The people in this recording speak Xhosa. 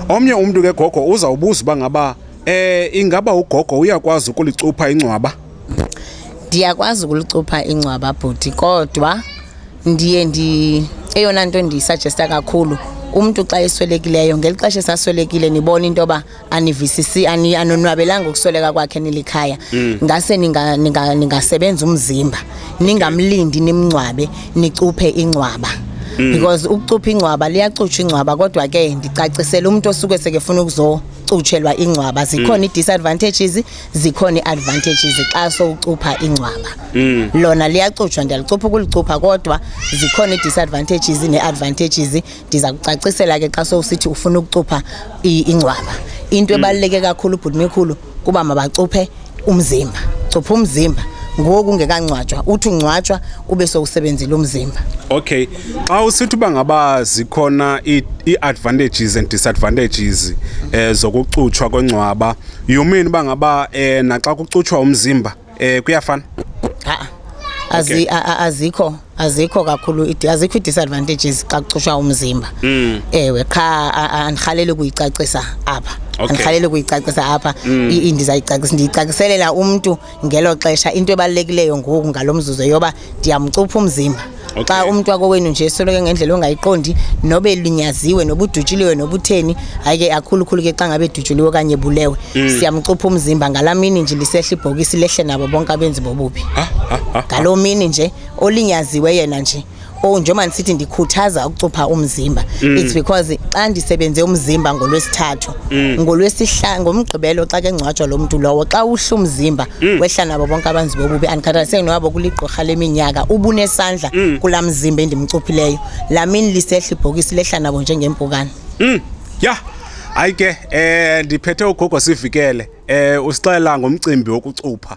Omnye umntu ke gogo uzawubuza uba ngaba eh ingaba ugogo uyakwazi ukulicupha ingcwaba? Ndiyakwazi ukulicupha ingcwaba bhuti kodwa ndiye ndi eyona nto ndiyisajesta kakhulu umntu xa eswelekileyo ngeli xesha esaswelekile nibona into yoba anivisisi anonwabelanga ukusweleka kwakhe nilikhaya mm. ngase ningasebenza umzimba ningamlindi nimngcwabe nicuphe ingcwaba mm. because ukucupha ingcwaba liyacutshwa ingcwaba kodwa ke ndicacisele umuntu osuke sekefuna ukuzo kucutshelwa ingcwaba zikhona mm. i-disadvantages zikhona i-advantages xa sowucupha ingcwaba mm. lona liyacutshwa ndiyalicupha ukulicupha kodwa zikhona i-disadvantages ne-advantages ndiza kucacisela ke xa sowusithi ufuna ukucupha ingcwaba into mm. ebaluleke kakhulu ubhuti mikhulu kuba mabacuphe umzimba cupha umzimba ngoku ungekangcwatshwa uthi ungcwatshwa ube sowusebenzile umzimba okay xa usithi uba ngaba zikhona ii-advantages and disadvantages um zokucutshwa kongcwaba you mean uba ngaba um naxa kucutshwa umzimba Eh kuyafana. Ha. Azi azikho azikho kakhulu azikho disadvantages xa kucushwa umzimba. Mm. Ewe qha andihalele ukuyicacisa apha. Andihalele ukuyicacisa apha mm. indizayicacisa ndiyicaciselela umuntu ngelo xesha into ebalulekileyo ngoku ngalomzuzu yoba ndiyamcupha umzimba okay. xa umntu wakowenu nje esoloko ngendlela ongayiqondi nobe linyaziwe noba udutshuliwe noba utheni hayi ke akhulukhulu ke xa ngabe edutshuliwe okanye bulewe mm. siyamcupha umzimba ngalaa mini nje lisehla ibhokisi lehle nabo bonke abenzi bobubi ngaloo mini nje olinyaziwe yena nje oh njengoba ndisithi ndikhuthaza ukucupha umzimba mm. it's because xa ndisebenze umzimba ngolwesithathu Mm. ngolwesihlanu ngomgqibelo xa ke ngcwatshwa lo mntu lowo xa uhla umzimba mm. wehla nabo bonke abanzi bobubi andikhathaliseki noyabo kuligqorha leminyaka ubunesandla mm. kulaa mzimba endimcuphileyo laa mini lisehla ibhokisi lehla nabo njengempukane mm. ya hayi ke um ndiphethe ugogo sivikele um usixelela ngomcimbi wokucupha